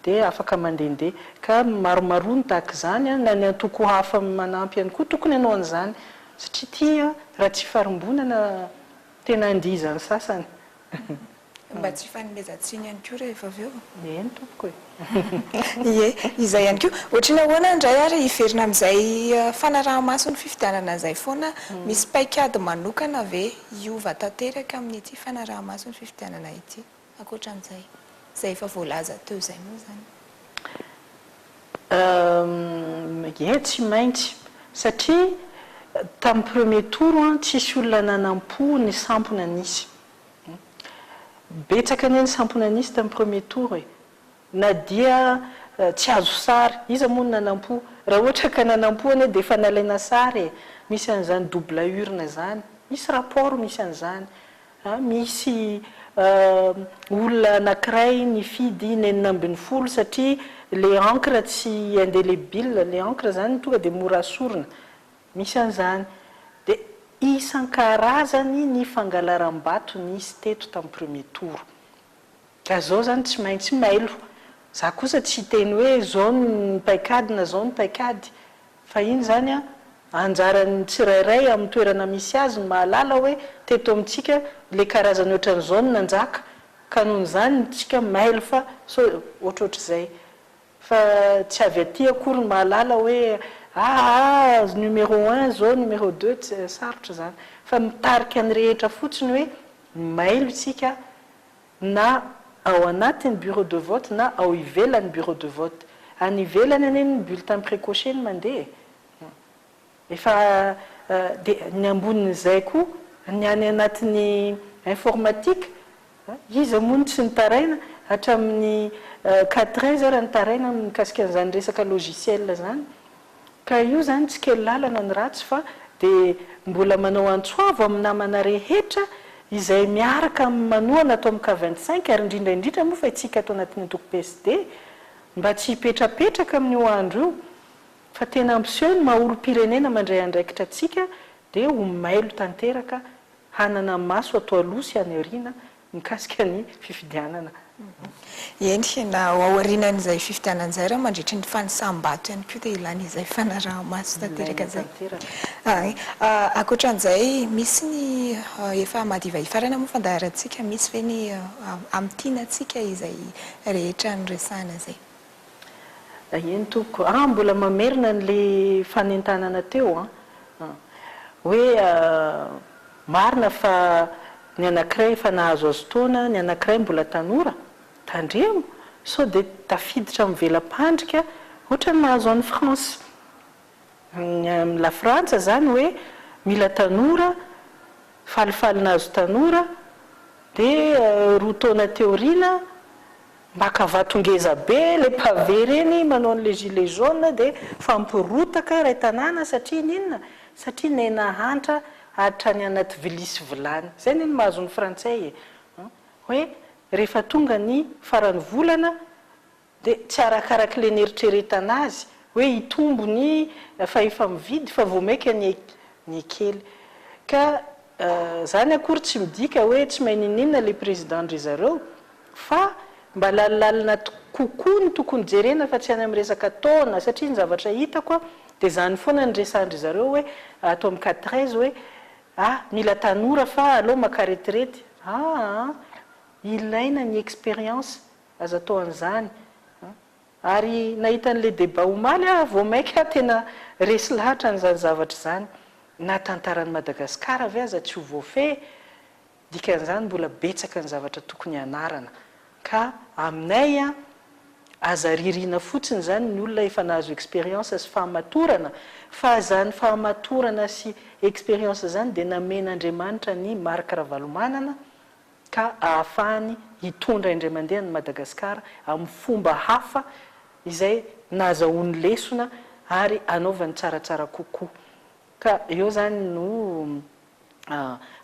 dia afaka mandehandeha. Ka maromaroa ny tahaka izany, na ny antoko hafa manampy ihany koa tokony hanao an'izany satria ity raha tsy ifarimbonana tena handia izany sasany. Mba tsy hifanomezan-tsiny ihany koa rehefa avy eo. Ie ny tompoko e! Ie, izay ihany koa. Ohatry ny ahoana indray ary hiverina amin'izay fanaraha-maso ny fifidianana izay foana? Misy paikady manokana ve hiova tanteraka amin'ity fanaraha-maso ny fifidianana ity, ankoatra an'izay izay efa voalaza teo izay moa izany? Ie, tsy maintsy. Satria tamin'ny premier tour, tsisy olona nanam-po ny sampona nisy. Betsaka anie ny samponan'isa tamin'ny premier tour e! Na dia tsy azo sary, iza moa no nanampo? Raha ohatra ka nanampo anie dia efa nalaina sary e! Misy an'izany double urne izany, misy rapport misy an'izany. Misy olona anankiray nifidy ny enina ambin'ny folo satria ilay encre tsy indélébile, ilay encre izany tonga dia mora sorona. Misy an'izany. Dia isan-karazany ny fangalaram-bato nisy teto tamin'ny premier tour. Ka izao izany tsy maintsy mailo. Za kosa tsy hiteny hoe izao ny paikady na izao ny paikady. Fa iny izany an, anjaran'ny tsirairay amin'ny toerana misy azy ny mahalala hoe teto amintsika ilay karazany ohatran'izao no nanjaka. Ka noho izany, isika mailo fa sao ohatrohatr'izay. Fa tsy avy aty akory ny mahalala hoe aa numéro un izao numéro deux ts sarotra izany fa mitarika ny rehetra fotsiny hoe mailo isika na ao anatin'ny bureau de vote na ao ivelan'ny bureau de vote. Any ivelany anie ny bulletin precoce no mandeha e! Efa dia ny ambonin'izay koa ny any anatin'ny informatique, iza moa no tsy nitaraina hatramin'ny quatre heures ary nitaraina mikasika an'izany resaka logiciel izany. Ka io izany tsy kely lalana ny ratsy fa dia mbola manao antso avo amin'ny namana rehetra izay miaraka amin'ny manohana ato amin'ny cas vingt cinq ary indrindra indrindra moa fa itsika ato anatin'ny antoko PSD mba tsy hipetrapetraka amin'io andro io Fa tena ampiseho ny maha olom-pirenena mandray andraikitra antsika dia ho mailo tanteraka hanana maso ato aloha sy any aoriana mikasika ny fifidianana. Eny, na ao aorianan'izay fifidianana izay ary mandritry ny fanisam-bato ihany koa dia ilaina izay fanaraha-maso tanteraka izay. Ankoatran'izay, misy ny efa madiva hifarana moa fandaharantsika, misy ve ny amin'ny tiana antsika izay rehetra noresahana izay? Eny tompoko ah mbola mamerina anle fanentanana teo an, hoe marina fa ny anakiray efa nahazoazo taona, ny anakiray mbola tanora, tandremo sao dia tafiditra amin'ny vela-pandrika ohatran'ny nahazo an'i France. Ny amin'i Lafrantsa izany hoe mila tanora, falifaly nahazo tanora, dia roa taona teo aoriana maka vato ngeza be ilay pavé ireny manao an'ilay gilet jaune dia mifamporotaka iray tanàna satria ny inona? Satria nena hantra hatrany anaty vilia sy vilany. Izay anie no mahazo ny frantsay e! Hoe rehefa tonga ny faran'ny volana, Dia tsy arakarak le neritreretana azy hoe hitombo ny fahefa mividy fa vao maika ny ny kely. Ka zany akory tsy midika hoe tsy mahay niniana le président ndry zareo fa mba lalilalina kokoa no tokony jerena fa tsy any am resaka taona satria ny zavatra hitako a dia zany foana ny resandry zareo hoe ato am cat treize hoe a mila tanora fa aleo maka retirety aa ilaina ny expérience Aza atao an'izany an! Ary nahita an'ilay débat omaly aho vao mainka tena resy lahatra an'izany zavatra izany. Na tantaran'i Madagasikara ve aza tsy ho voafehy? Dikan'izany mbola betsaka ny zavatra tokony hanarana. Ka aminay an! Aza ririana fotsiny izany ny olona efa nahazo expérience sy fahamatorana fa izany fahamatorana sy expérience izany dia namen'Andriamanitra an'i Marc Ravalomanana, ka ahafahany hitondra indray mandeha an'i Madagasikara amin'ny fomba hafa izay nahazahoany lesona ary hanaovany tsaratsara kokoa. Ka eo izany no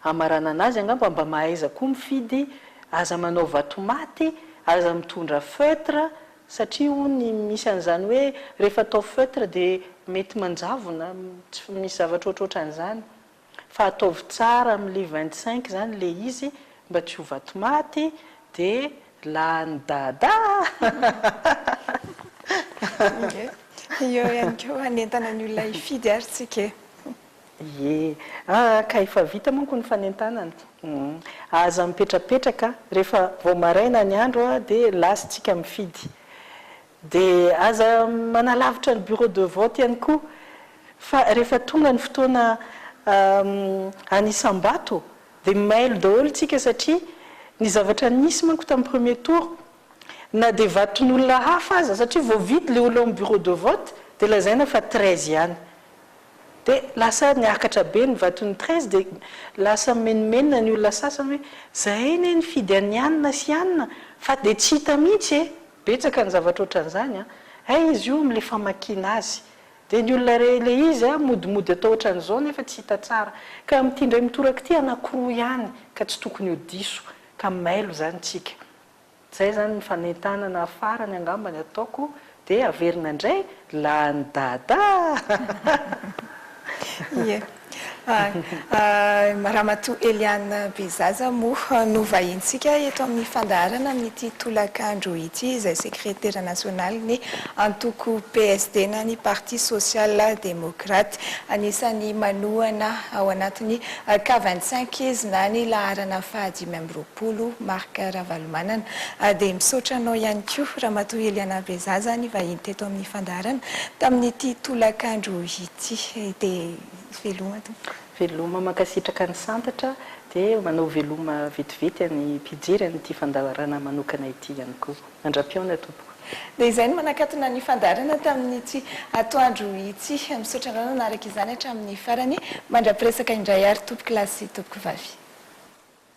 hamaranana azy angamba, mba mahaiza koa mifidy, aza manao vatomaty, aza mitondra feutre, satria hono misy an'izany hoe rehefa atao feutre dia mety manjavona, tsy misy zavatra ohatrohatran'izany. Fa ataovy tsara amin'ny le vingt cinq zany le izy mba tsy ho vato maty de lany dada. Eo ihany koa hanentana ny olona hifidy ary tsika e. Ie, ah ka efa vita manko ny fanentanana. Aza mipetrapetraka, rehefa vao maraina ny andro dia lasintsika mifidy. Dia aza manalavitra ny bureau de vote ihany koa fa rehefa tonga ny fotoana anisam-bato dia mailo daholo isika satria ny zavatra nisy manko tamin'ny premier tour na dia vaton'olona hafa aza satria vao vita ilay olona ao amin'ny bureau de vote dia lazaina fa treize ihany dia lasa niakatra be ny vaton'ny treize dia lasa mimenomenona ny olona sasany hoe izay anie nifidy an'i anona sy anona fa dia tsy hita mihitsy e! Betsaka ny zavatra ohatran'izany an! Hay izy io amin'ilay famakiana azy! Dia ny olona iray ilay izy an, modimody atao ohatran'izao nefa tsy hita tsara! Ka amin'ity indray mitoraka ity anankiroa ihany ka tsy tokony ho diso, ka mailo izany tsika! Izay izany ny fanentanana farany angamba ny ataoko dia averina indray Lany dada ah! Ramatoa Eliane Bezaza moa no vahintsika eto amin'ny fandaharana amin'ity tolakandro ity izay sekretera nasionalin'ny antoko PSD na ny Parti Social Democrate. Anisan'ny manohana ao anatin'ny K vingt cinq izy na ny laharana fahadimy amby roapolo. Bolo Marc Ravalomanana. A Dia misaotra anao ihany koa Ramatoa Eliana Bezaza nivahiny teto amin'ny fandaharana tamin'ity tolakandro ity. Dia veloma tompoko. Veloma, mankasitraka ny Santatra, dia manao veloma vetivety an'ny mpijery an'ity fandaharana manokana ity ihany koa. Mandra-pihaona tompoko. Dia izay no manakatona ny fandaharana tamin'ity atoandro ity. Misaotra anao nanaraka izany hatramin'ny farany. Mandra-piresaka indray ary tompokolahy sy tompokovavy.